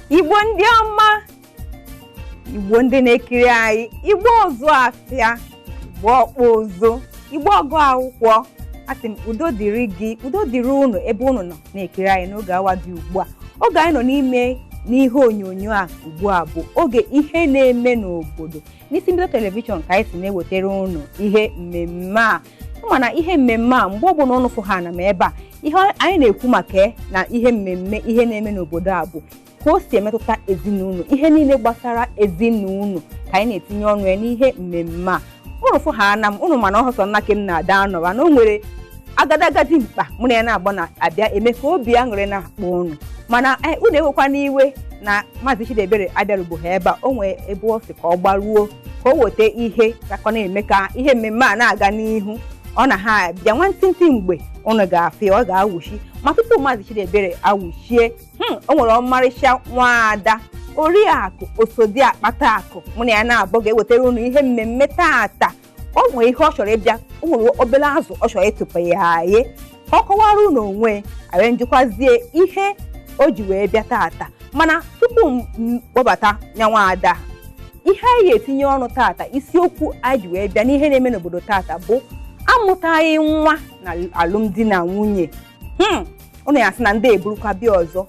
igbo ndị ọma igbo ndị na-ekiri anyị igbo ọzụ afịa igbo ọkpụ ụzụ igbo ọgụ akwụkwọ asị m udo dịrị gị udo dịrị unu ebe unu nọ na-ekiri anyị n'oge awa dị ugbu a oge anyị nọ n'ime n'ihe onyonyo a ugbu a bụ oge ihe na-eme n'obodo n'isi mbido telivishọn ka anyị si na-ewetara unu ihe mmemme a mana ihe mmemme a mgbe ọbụla ụnụ fụ ha na m ebe a ihe anyị na-ekwu maka ya na ihe mmemme ihe na-eme n'obodo a bụ ka o si emetụta ezinụlọ ihe niile gbasara ezinụlọ ka anyị na-etinye ọnụ ya n'ihe mmemme a ụnụ fụ ha na m ụnụ ma na ọ hụ sọ nna ke m na-ada anọwa na o nwere agadaga dimkpa mụ na ya na-agba na-abịa eme ka obi aṅụrị na-akpọ ụnụ mana ụnụ ewekwana iwe na maazị Chidiebere abịarugbo ha ebe a o nwee ebe ọ sị ka ọ gbaruo ka o weta ihe gakọ na-eme ka ihe mmemme a na-aga n'ihu ọ na ha abịa nwantịntị mgbe ụnụ ga-afụ ya ọ ga-awụchi ma tupu maazị Chidiebere awụchie hmm, o nwere ọmarịcha nwaada oriakụ osodi akpata akụ mụ na ya na-abụ ga-ewetara ụnụ ihe mmemme tata o nwere ihe ọ chọrọ ịbịa o nwere obere azụ ọ chọrọ ịtụpịa anyị ka ọ kọwara unu onwe ya njikwazie ihe o ji wee bịa tata mana tupu m m kpọbata nya nwaada ihe anyị ga-etinye ọnụ tata isiokwu anyị ji wee bịa n'ihe na-eme n'obodo tata bụ amụtaghị nwa na alụmdi na nwunye Hmm, ụnụ ya-asị na ndị a eburukwa bịa ọzọ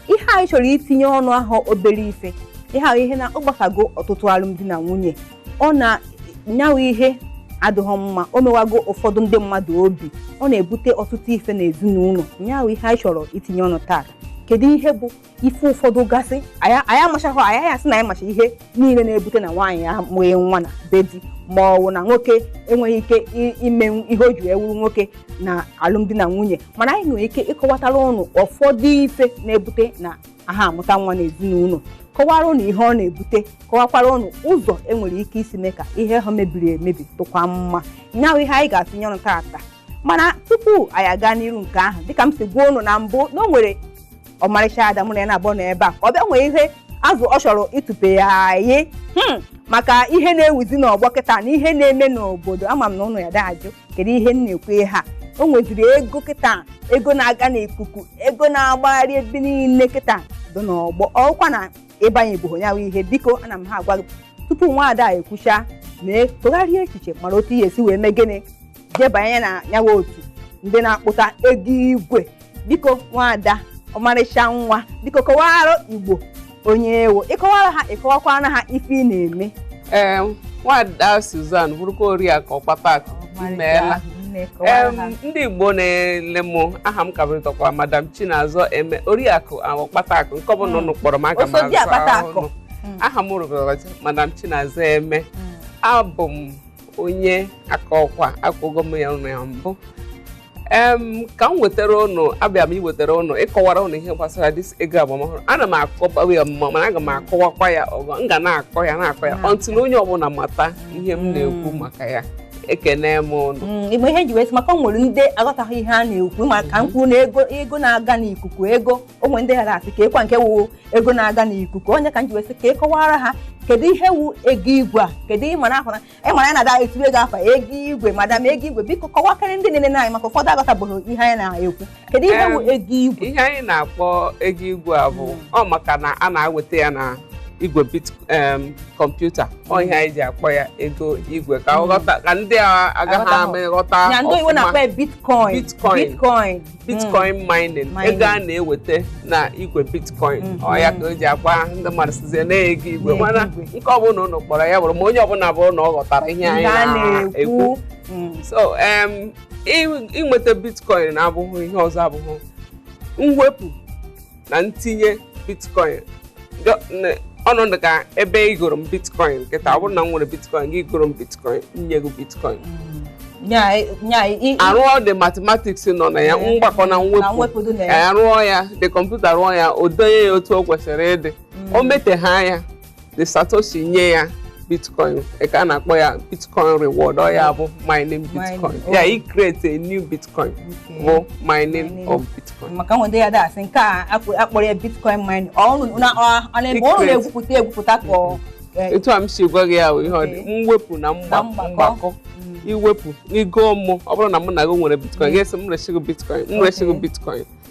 ihe anyị chọrọ itinye ọnụ ahụ obere ife ihe ahụ ihe na ọ gbasago ọtụtụ alụmdi na nwunye ọ na nyawa ihe adịghị mma o mewago ụfọdụ ndị mmadụ obi ọ na-ebute ọtụtụ ife na ezinụlọ nyawa ihe anyị chọrọ itinye ọnụ taa kedu ihe bụ ife ụfọdụ gasị anyị anyị amachaghị anyị anyị asị na anyị macha ihe niile na-ebute na nwaanyị amụghị nwa na be di ma ọ bụ na nwoke enweghị ike i- ime ihe o ji wee wuru nwoke na alụmdi na nwunye mana anyị nwere ike ịkọwatara ụnụ ụfọdụ ife na-ebute na aha amụta nwa n'ezinụlọ kọwara ụnụ ihe ọ na-ebute kọwakwara ụnụ ụzọ enwere ike isi mee ka ihe ha mebiri emebi dịkwa mma nyawa ihe anyị ga-etinye ọnụ taata mana tupu anyị aga n'iru nke ahụ dịka m si gwa ụnụ na mbụ na o nwere ọmarịcha ada mụ na ya na-abụ na ebe a ka ọ bịa nwee ihe azụ ọ chọrọ ịtụpịa anyị maka ihe na-ewuzi n'ọgbọ kịta na ihe na-eme n'obodo ama m na ụnụ ya da-ajụ kedu ihe m na-ekwu ihe a o nweziri ego kịta ego na-aga n'ikuku ego na-agbagharị ebe niile kịta dị n'ọgbọ ọkwa na ịbanyeboho nyawa ihe biko ana m ha agwa gị tupu nwaada ekwucha mee tụgharịa echiche mara otu ị ya-esi wee mee gịnị jebanye na nyawa otu ndị na-akpụta ego igwe biko nwaada ọmarịcha nwa biko kọwara igbo onye ị wụ ịkọwara ha ịkọwakwara ha ife ị na-eme ee nwaada Suzan bụrụkwa oriakụ ọkpata akụ imeela Em, ndị igbo na-ele m aha m ka bụrịtakwa madam chinazọ eme oriakụ ọkpata akụ nke ọbụla ụnụ kpọrọ m aga m Oso di aza akpata aha akụ. ụnụ. aha m rụbara madam chinazọ eme abụ m onye Akọkwa akọgo m ya ụnụ ya mbụ em ka m wetara ụnụ abịa m iwetara ụnụ ịkọwara ụnụ ihe gbasara this ego agba ọhụrụ ana m akọbawa ya mma mana aga m akọwakwa ya ọzọ m ga na-akọ ya na-akọ ya until onye ọbụla mata ihe m na-ekwu maka ya ekene m ụnụ Mm, igbe ihe m ji wee sị maka o nwere ndị aghọtaghị ihe a na-ekwu maka m kwuo na ego ego na-aga n'ikuku ego o nwee ndị ga na-asị keekwa nke wụ ego na-aga n'ikuku ọ ya ka m ji wee sị ka ị kọwara ha kedu ihe wu ego igwe a kedu ihe mara ahụra ịmara ya na-ada etinyego afa ego igwe madam ego igwe biko kọwakwara ndị na-ene anyị maka ụfọdụ aghọtabeghị ihe anyị na-ekwu kedu ihe wu Em, ego igwe ihe anyị na-akpọ ego igwe a bụ ọ maka na a na-eweta ya na igwe bit em, kọmputa ọ ihe anyị ji akpọ ya ego igwe ka ọ ghọta ka ndị a agaghị Aghọta. ama ịghọta ya ndị oyibo ọfụma. na-akpọ ya bitcoin Bitcoin. bitcoin bitcoin mining Mining. ego a na-eweta na igwe bitcoin Mhm. ọ ya ka e ji akpọ ndị mmadụ sịzie na ọ ego igwe Na-ego mana igwe. nke ọbụla ụnụ kpọrọ ya bụrụ ma onye ọbụla bụrụ na ọ ghọtara ihe anyị Ihe a na-ekwu na-ekwu Mm. so em, ị- inweta bitcoin abụghị ihe ọzọ abụghị mwepụ na ntinye bitcoin ọ na-adị ka ebe i goro m bitcoin kịta ọ bụrụ na m nwere bitcoin gị goro m bitcoin m nye gị bitcoin arụọ the mathematics nọ na ya mgbakọ na mwepụ arụọ ya the kọmputa rụọ ya o denye ya otu o kwesịrị ịdị mm. o mete ha ya the satoshi nye ya bitcoin ka a na-akpọ ya bitcoin reward ọ ya bụ mining bitcoin Mining, ya oh. ị create a new bitcoin Okay. bụ mining Mining. of bitcoin maka nwete ya that's nke a akpọ- akpọrọ ya bitcoin mining ọ unu- na- ọ- ọ na-ebe ọ Secret. na-egwupụta egwupụta ka ọ eh, etu a m si gwa gị ya bụ ihe ọ dị Okay. mwepụ na mgba- Na mgbakọ. mgbakọ mm, iwepụ n'igo mụ ọ bụrụ na mụ na gị nwere bitcoin gị asị m resi gị bitcoin m resi gị Okay. bitcoin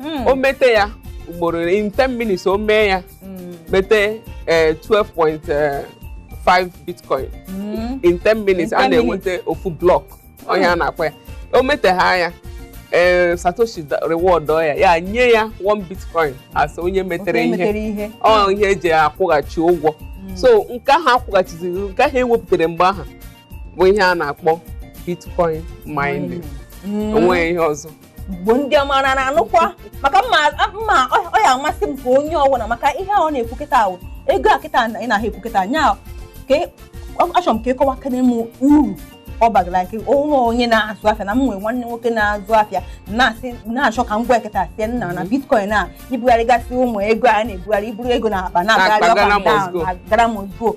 Mm. o mete ya ugboro in 10 minutes o mee ya Mm. mete eh, 12.5 bitcoin Mm. in 10 minutes In a 10 na-enweta ofu block ihe a na-akpọ ya o metegha ya ee satoshi da- reward-ọ ya ya nye ya 1 bitcoin as onye metere Otu ihe emetere ihe ọ ihe eji akwụghachi ụgwọ so nke ahụ akwụghachiziri nke ahụ ewepụtara mgbe ahụ bụ ihe a na-akpọ bitcoin mining Mm. onweghị ihe ọzọ igbo ndị ọma na na-anụkwa maka mma mma ọ- ọ ya amasị m ka onye ọwụla maka ihe a ọ na-ekwu kịta ahụ ego a kịta na- ị na-ahụ ekwu kịta nya ka ị- ọ- achọrọ m ka ị kọwakene m uru ọ bagara ike onwe onye na-azụ afịa na m nwere nwanne nwoke na-azụ afịa na-asị na-achọ ka m gwa ya kịta sị ya nna na bitcoin a ibugharịgasị ụmụ ego a na-ebugharị iburu ego na akpa na-agagharị Na-akpa up Ghana and down, must go. na Ghana must go.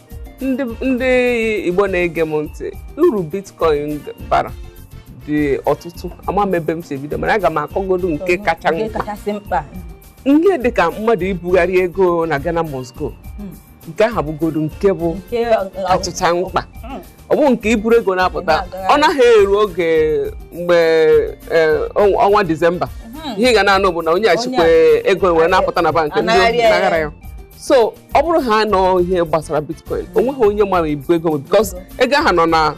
ndị ndị igbo na-ege m ntị uru bitcoin bara dị ọtụtụ ama m ebe m si ebido mana aga m akọgodu nke kacha Nke mkpa kachasị mkpa ihe dịka mmadụ ibugharị ego na Ghana must go nke ahụ bụgodu nke bụ nke kachacha mkpa ọ bụ nke iburu ego na-apụta ọ naghị eru oge mgbe eh, ọnwa ọnwa disemba ihe ị ga na-anụ bụ na onye a chịkwa ego wee na-apụta na bankị ndị Anaghara ya. naghara ya so ọ bụrụ ha na ọ ihe gbasara bitcoin o nweghị onye mara i bu ego because ego ahụ nọ na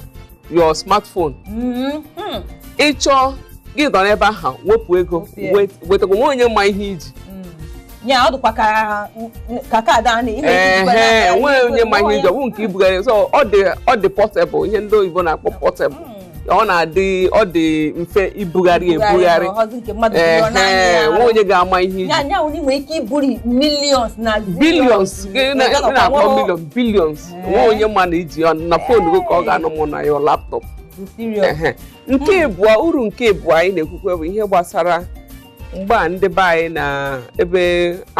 your smartphone Mhm. Mm. ị chọọ gị nọ n'ebe ahụ wepụ ego Wepụ ya. wet- wetakwa o nweghị onye ma ihe i ji Mm. ya ọ dịkwa ka ka kaadị a na ị na-eji jikwa ehe n'aka, o nweghị onye ma ihe na-eji i ji ọ bụ nke ibugharị so ọ dị ọ dị portable ihe ndị oyibo na-akpọ portable Mm. ọ na-adị ọ dị mfe ibugharị ebugharị nweghị onye ga-ama ihe i ji i nwere ike iburu millions na billions na-akpọ million billions nweghị onye ma na i ji na fon gị ka ọ ga-anọ ma ọ bụ na your laptop nke ịbụọ uru nke ịbụọ anyị na-ekwukwe bụ ihe gbasara mgbe a ndị be anyị na ebe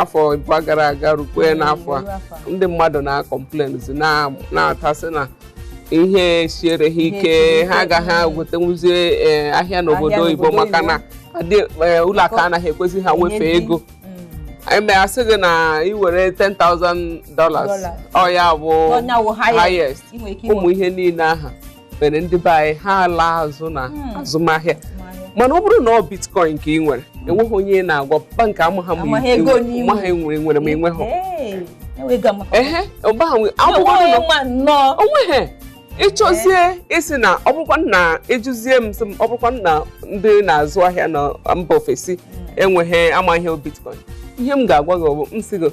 afọ ịbụọ gara aga rukwe mm, n'afọ a ndị mmadụ na-complain na-atasị na ihe siere ha ike ha agaghị egotanwuzie eh, ahịa n'obodo oyibo maka na eh, ụlọ akụ anaghị ekwezi ha wefee ego mm. em a sị gị na ị were 10,000 dollars ọ ya bụ highest ụmụ ihe niile aha mere ndị be anyị ha alaa azụ na hmm. azụmahịa mana ọ bụrụ na ọ bitcoin ka ị nwere enweghị onye ị na-agwa bankị amaghị i nwere ma i nweghị onweghị ịchọzie ịsị na ọ bụrụkwa na ị jụzie m sị m ọ bụrụkwa na ndị na-azụ ahịa na mba ofesi hmm. enweghị amaghị bitcoin ihe m ga-agwa gị ọ bụ m sị gị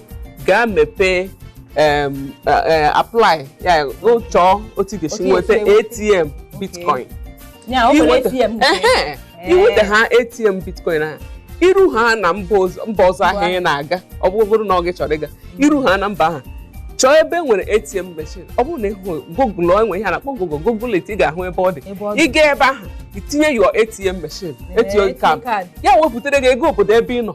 gaa mepee em, eh, eh, apply ya gị chọọ otu ị ga-esi Otu nweta esi enweta. atm bitcoin ya o nwere Inweta- ATM nke- Ehe, Ee. i nweta ha atm bitcoin ahụ iru ha na mba ọzọ mba ọzọ ahụ ị na-aga ọ bụ- bụrụ na ọ gị chọrọ ịga iru ha na mba ahụ chọọ ebe nwere atm machine ọ bụrụ na ịhụ google e nwe ihe a na-akpọ google google it ị ga-ahụ ebe ọ dị Ebe ọ dị. ị gaa ebe ahụ i tinye your atm machine Ee, etinye ATM kaadị card. ya wepụtara gị ego obodo ebe ị nọ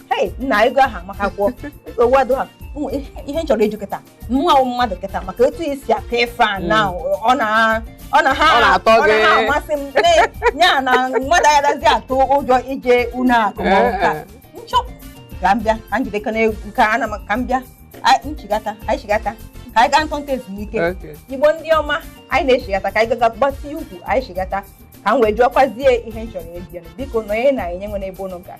hei nna ego ahụ amaka gwọ nsogbu adịghị Ụmụ ihe- ihe m chọrọ ịjụ kịta mụnwa wụ mmadụ kịta maka etu i si aka ife a na ọ na ọ na ha Ọ na-atọ ọ na gị. ha amasị m na- ya na mmadụ agaghịzi atụ ụjọ ije ụnọ akụ ma ọ bụ ka m chọọ ka m bịa ka Njideka na-ekwu ka ana m ka m bịa Anyị- nchigata anyị chigata ka anyị gaa ntọntọ ezumike Okay. Igbo ndị ọma anyị na-echigata ka anyị gaga gbatịa ụkwụ anyị chigata ka m wee jụọkwazie ihe m chọrọ ịbịa biko nọnye na anyị enwena ebe unu gara